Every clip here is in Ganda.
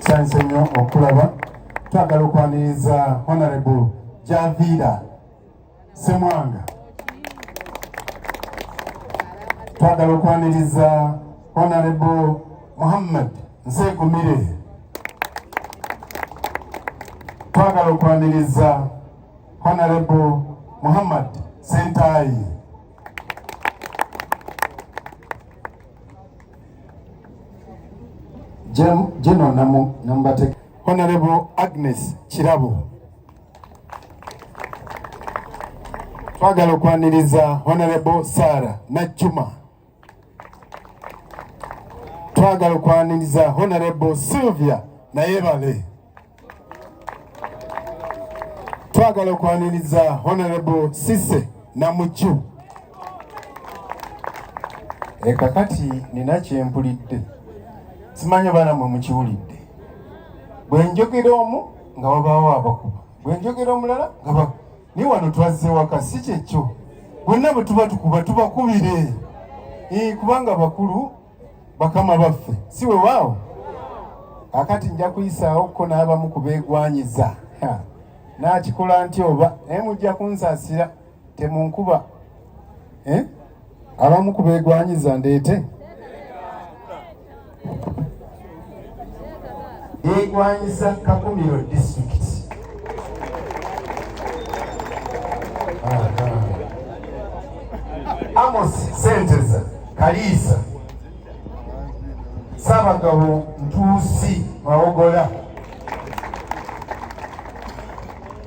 kyanse nnyo okulaba twagala okwaniriza honorable javiira semwanga twagala okwaniriza honorable muhammad nsekumire twagala okwaniriza honorable muhammad sentaayi General Namu Nambateka. Honorable Agnes Kirabo. Twagala okwaniriza Honorable Sarah Najjuma. Twagala okwaniriza Honorable Sylvia Nayebale. twagala okwaniriza honorable sise namukyu ekakati eh, nina kyempulidde simanyi baana mwe mukiwulidde bwe njogera omu nga wabaawo abakuba bwe njogera omulala nga ba ni wano twazze waka si kyekyo bonna bwe tuba tukuba tubakubire eh, kubanga bakulu bakama baffe si wewaawo akati nja kuyisaawo ko n'abamu ku beegwanyiza n'akikola nti oba naye mujja kunsasira temunkuba eh? abamu ku beegwanyiza ndeete egwanyisa kakumiro district amos senteza kaliisa sabagabo ntuusi mawogola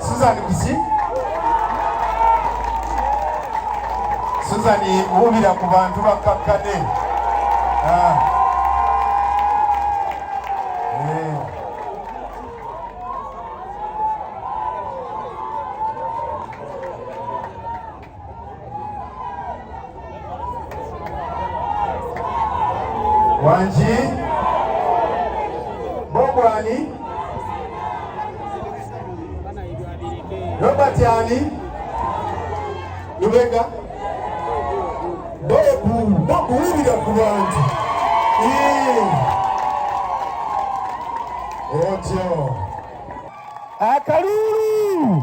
Susan Bisi Susan wubira ku bantu bakkakkane ah. eh. Wanji Bogwani Robert Yani Lubega Bobu Bobu wulira ku bantu otyo akalulu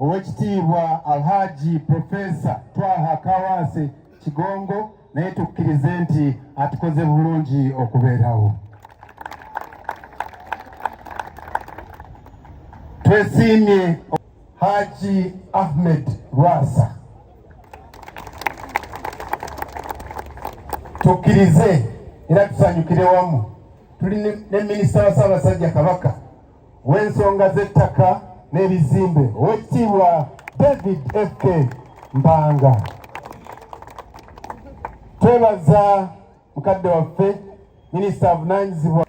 Owekitiibwa Alhaji Profesa Twaha Kawaase Kigongo naye tukkirize nti atukoze bulungi okubeerawo. Twesiimye Haji Ahmed Lwasa tukkirize era tusanyukire wamu tuli ne minisita wa Ssaabasajja Kabaka w'ensonga z'ettaka n'ebizimbe owekitiibwa David FK Mpanga. Twebaza mukadde waffe minisita avunaanyizibwa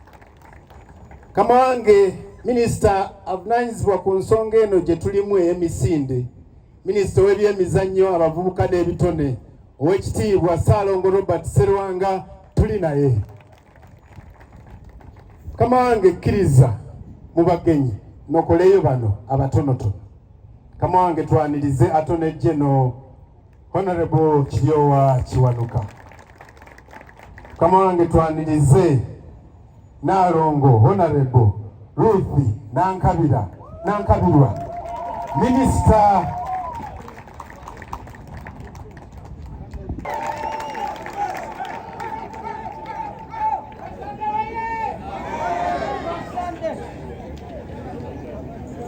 kama wange minisita avunaanyizibwa ku nsonga eno gye tulimu ey'emisinde minisita ow'ebyemizannyo abavubuka n'ebitone owekitiibwa Ssaalongo Robert Serwanga tuli naye. mukama wange kkiriza mu bagenyi nokoleyo bano abatonotono mukama wange twanirize atonejje no honorable kiryowa kiwanuka mukama wange twanirize naalongo honorable Ruth Nankabira Nankabirwa minisita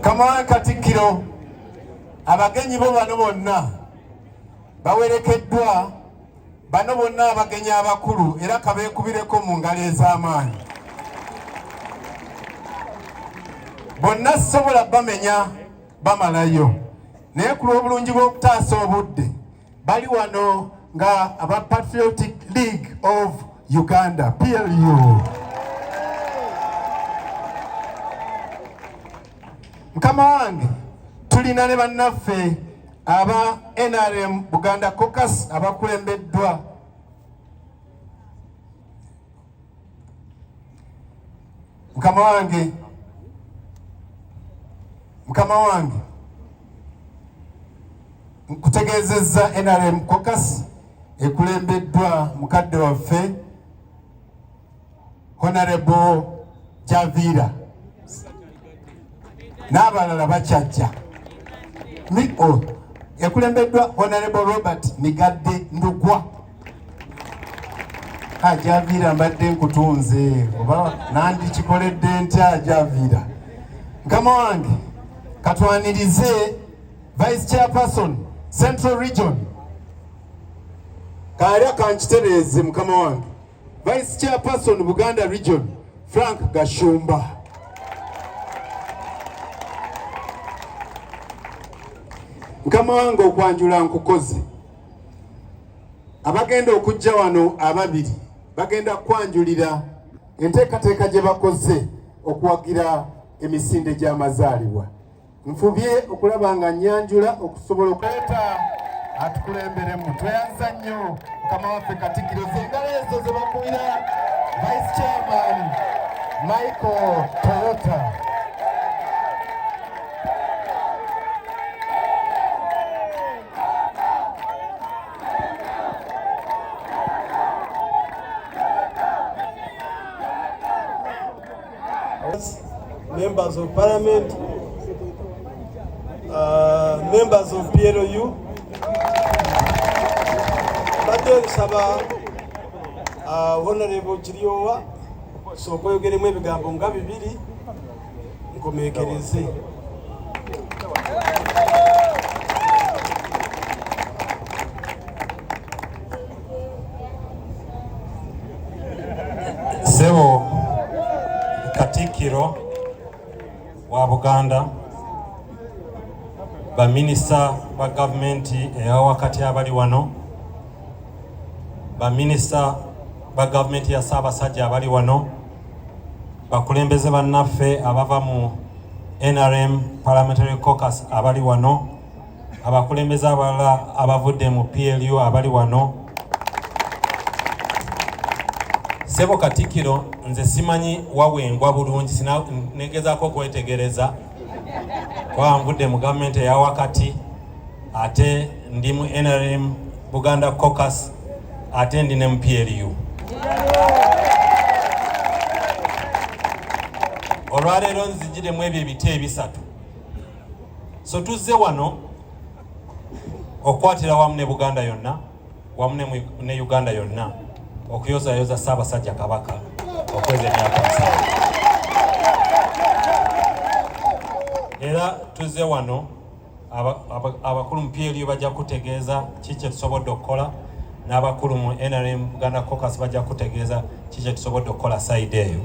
Kamala Katikkiro abagenyi bo bano bonna bawerekeddwa Bano bonna abagenyi abakulu era kabeekubireko mu ngalo ez'amaanyi. Bonna sisobola bamenya bamalayo naye ku lw'obulungi bw'okutaasa obudde bali wano nga aba Patriotic League of Uganda PLU. Mukama wange tulina ne bannaffe Aba NRM Buganda Caucus abakulembeddwa mukama wange mukama wange nkutegeezezza NRM Caucus ekulembeddwa mukadde waffe Honorable Javira n'abalala bakyajja oh, ekulembeddwa Honorable Robert Migadde Ndugwa ajaviira mbadde nkutunze oba nandikikoledde ntya ajaviira nkama wange katwanirize vice chairperson central region kaali akankitereeze mukama wange Vice Chairperson Buganda Region Frank Gashumba. Mukama wange okwanjula nkukoze. Abagenda okujja wano ababiri bagenda kwanjulira enteekateeka gye bakoze okuwagira emisinde gy'amazaalibwa. Nfubye okulaba nga nyanjula okusobola okuleeta atukulemberemu. Tweyanza nnyo mukama waffe Katikkiro zengalo ezo ze bakubira Vice Chairman Michael Toyota. Members of Parliament, uh, members of PLU, mbadde nsaba uh, Honorable Kiryowa sooka oyogeremu ebigambo nga bibiri nkomekereze. Sebo Katikiro wa Buganda baminisita ba gavumenti eya wakati abali wano baminisita ba gavumenti ya Ssaabasajja abali wano bakulembeze bannaffe abava mu NRM Parliamentary Caucus abali wano abakulembeze abalala abavudde mu PLU abali wano sebo katikiro nze simanyi wawengwa bulungi negezako okwetegereza kuba nvudde mu gavumenti eya wakati ate ndi mu nrm buganda cocus ate ndi ne mu PLU olwaleero nzijiremu ebyo ebiti ebisatu So tuzze wano okukwatira wamu ne Buganda yonna wamu ne Uganda yonna okuyozayoza Ssaabasajja Kabaka okweza emyaka musanvu. Era tuzze wano abakulu mu PLU bajja kutegeeza ki kye tusobodde okukola n'abakulu mu nrm buganda cocus bajja kutegeeza kikye tusobodde okukola sayidi eyo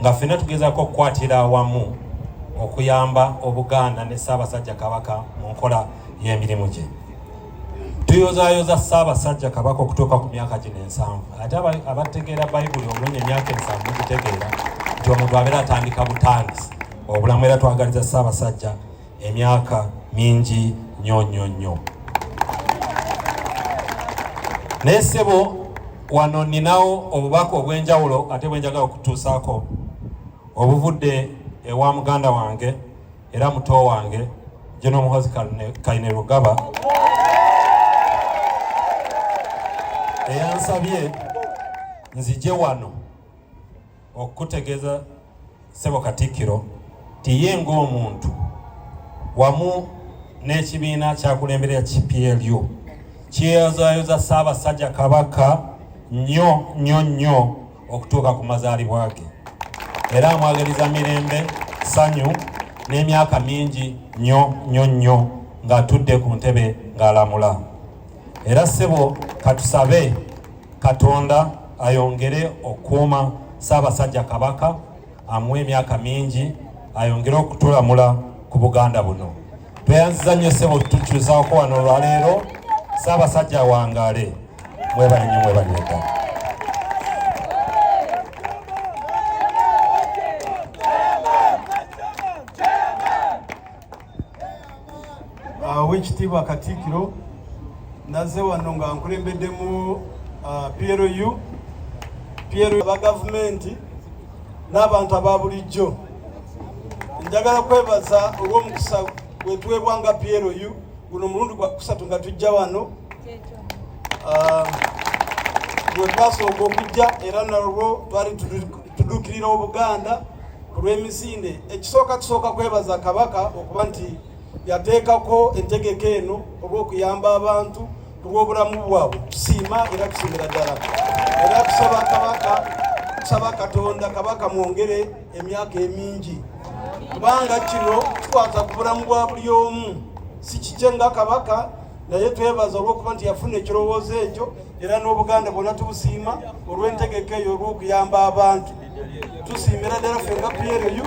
nga fina tugezako okukwatira awamu okuyamba obuganda ne ssaabasajja kabaka mu nkola y'emirimu gye tuyozayoza ssaabasajja kabaka okutuuka ku myaka gino ensanvu ate abategeera bayibuli obulungi emyaka ensanvu gitegeera nti omuntu abeera atandika butandisi obulamu era twagaliza ssaabasajja emyaka mingi nnyo nnyo nnyo naye ssebo wano ninawo obubaka obw'enjawulo ate bwenjagala okutuusaako obuvudde ewa muganda wange era muto wange jeno muhozi kaine lugaba eyansabye nzije wano okukutegeeza ssebo katikkiro nti ye ng'omuntu wamu n'ekibiina kyakulemberera ki plu kyeyozaayoza ssaabasajja kabaka nnyo nnyo nnyo okutuuka ku mazaalibwa ge era amwagaliza mirembe ssanyu n'emyaka mingi nnyo nnyo nnyo ng'atudde ku ntebe ng'alamula era ssebo katusabe Katonda ayongere okukuuma Ssaabasajja Kabaka amuwe emyaka mingi ayongere okutulamula ku Buganda buno. Tweyanziza nnyo ssebo tutukyusaako wano olwaleero. Ssaabasajja awangaale mwebale nnyo mwebale ddala. owekitiibwa katiikiro naze wano nga nkulembeddemu uh, PLU PLU aba gavumenti n'abantu aba bulijjo njagala kwebaza olw'omukisa gwetuweebwa nga PLU guno mulundi gwa kusatu nga tujja wano uh, gwetwasooka okujja era nalwo twali Tuduukirira Obuganda ku lw'emisinde. Ekisooka tusooka kwebaza Kabaka okuba nti yateekako entegeka eno olw'okuyamba abantu ku lw'obulamu bwabwe. Tusiima era tusiimira ddala era tusaba Kabaka tusaba Katonda Kabaka mwongere emyaka emingi kubanga kino kikwata ku bulamu bwa buli omu si kikye nga Kabaka naye twebaza olw'okuba nti yafuna ekirowoozo ekyo era n'obuganda bwonna tubusiima olw'entegeka eyo olw'okuyamba abantu tusiimira ddala ffe nga plu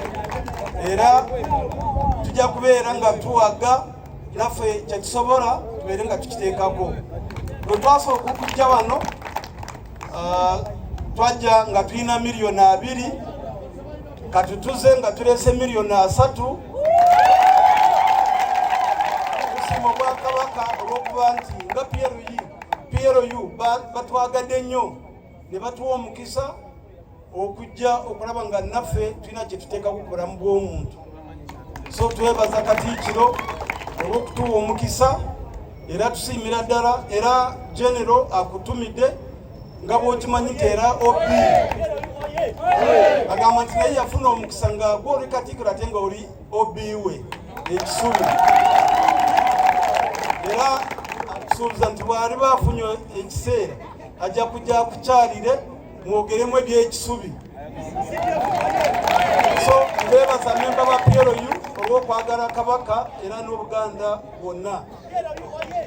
era tujja kubeera nga tuwaga naffe kyetusobola tubeere nga tukiteekako bwe twasooka okujja wano ah, twajja nga tulina miliyoni abiri katutuze nga tulese miliyoni asatu tusiima obwakabaka olw'okuba nti nga plu PLU batwagadde nnyo ne batuwa omukisa okujja okulaba nga naffe tulina kye tuteekaku ku bulamu bw'omuntu so twebaza katiikiro olw'okutuwa omukisa era tusiimira ddala era genero akutumidde nga bwokimanyi nti era ob agamba nti naye yafuna omukisa nga gwe oli katiikiro ate nga oli obiwe ekisubi era asuubiza nti bwali bafunye ekiseera ajja kujja kukyalire mwogeremu ebyekisubi so bebaza memba ba plu olwokwagala kabaka era n'obuganda bwonna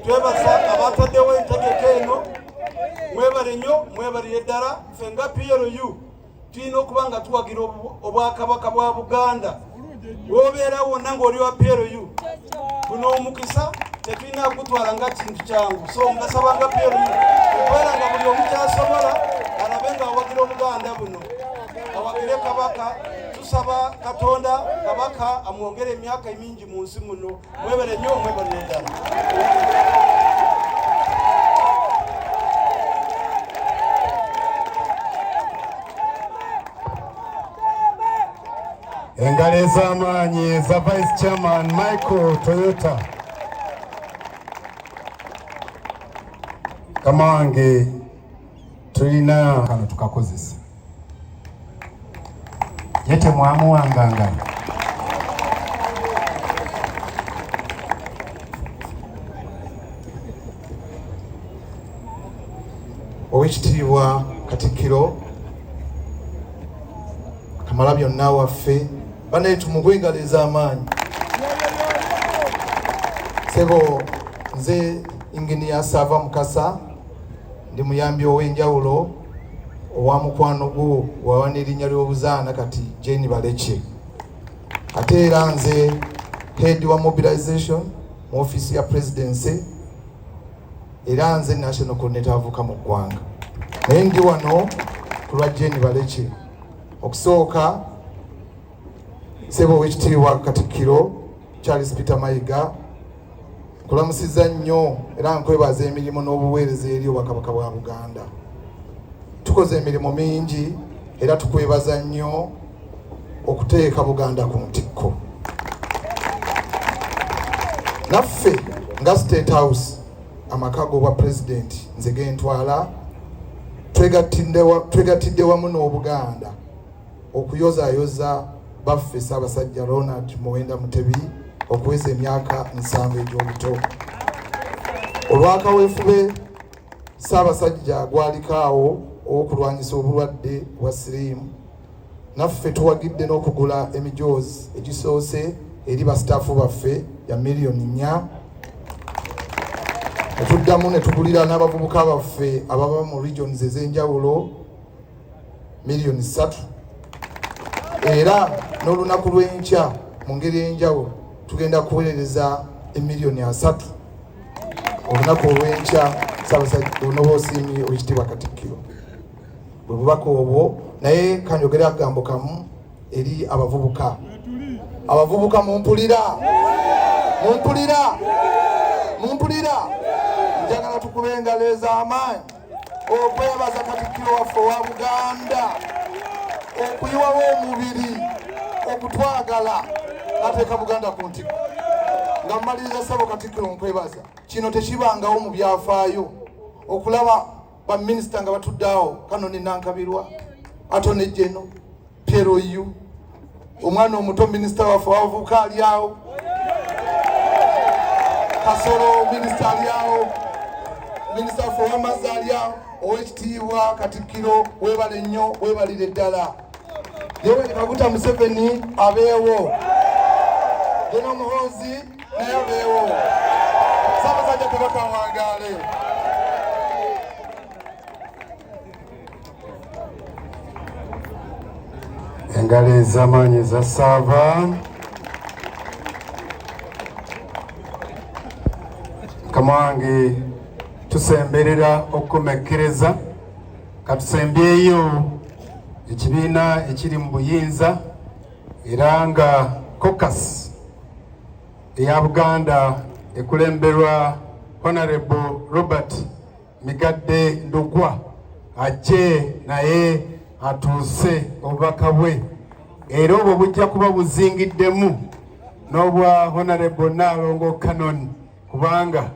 twebaza abataddewo entegeka eno mwebale nnyo mwebalire ddala ffe nga plu tulina okuba nga tuwagira obwakabaka bwa buganda wobeera wonna ngaoli wa plu guno omukisa tetulina kugutwala nga kintu kyangu so ngasaba nga plu okubeera nga buli omukyasobola alabe nga awagira obuganda buno awagire kabaka tusaba katonda kabaka amwongere emyaka emingi mu nsi muno Mwebale nnyo mwebale endala. Engalo ez'amaanyi eza Vice Chairman Michael Toyota. Kamange tulina kano tukakozesa ye temwamuwanganga owekitiibwa katikkiro kamala byonna waffe banaye tumugu engalo ez'amaanyi sebo nze inginiya saava mukasa ndi muyambi ow'enjawulo owa mukwano gwo wawa n'erinnya ly'obuzaana kati jeni balekye ate era nze head wa mobilization mu ofiisi ya presidency era nze national coordinator avuka mu ggwanga naye ndi wano ku lwa jeni balekye okusooka Sebo wekitiibwa Katikkiro Charles Peter Mayiga kulamusiza nnyo era nkwebaza emirimu n'obuweereza eri obwakabaka bwa Buganda. Tukoze emirimu mingi era tukwebaza nnyo okuteeka Buganda ku ntikko. Naffe nga State House amaka g'obwa pulezidenti nze gentwala twegattidde wamu n'Obuganda okuyozaayoza baffe Ssaabasajja Ronald Muwenda Mutebi okuweza emyaka nsanvu egy'obuto. Olwakaweefube Ssaabasajja gwaliko awo ow'okulwanyisa obulwadde bwa siriimu, naffe tuwagidde n'okugula emijoozi egisoose eri basitaafu baffe ya miliyoni nnya ne tuddamu ne tugulira n'abavubuka baffe ababa mu regions ez'enjawulo miliyoni ssatu era n'olunaku lw'enkya mu ngeri ey'enjawulo tugenda kuweereza emiliyoni asatu olunaku olw'enkya sabasajja onoba osiimye ekitiibwa katikkiro bwe bubaka obwo naye kanjogere akagambo kamu eri abavubuka abavubuka mumpulira mumpulira mumpulira njagala tukube engalo ez'amaanyi okwebaza katikkiro waffe owa buganda okuyiwawo omubiri okutwagala nateeka buganda ku ntiko nga mumaliriza sabo katikkiro nkwebaza kino tekibangawo mu byafaayo okulaba baminisita nga batuddeawo kano ninankabirwa ato nejeno Piero yu omwana omuto minisita waffe wabavubuka ali awo, Kasolo minisita ali awo, minisita waffe ow'amazzi ali awo, ow'ekitiibwa Katikkiro webale nnyo webalire ddala. Yoweri Kaguta Museveni abeewo, Gen Muhoozi naye abeewo, Ssaabasajja Kabaka awangaale. engalo ez'amaanyi eza saava mukama wange tusemberera okukomekkereza katusembyeyo ekibiina ekiri mu buyinza era nga cocas eya buganda ekulemberwa honorable robert Migadde Ndugwa ajje naye atuuse obubaka bwe era obwo bujja kuba buzingiddemu n'obwa Honorable Nnaalongo Canon kubanga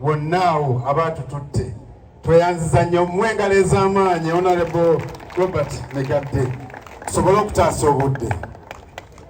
bonna awo abaatututte tweyanziza nnyo mwe engalo ez'amaanyi Honorable Robert Migadde tusobole okutaasa obudde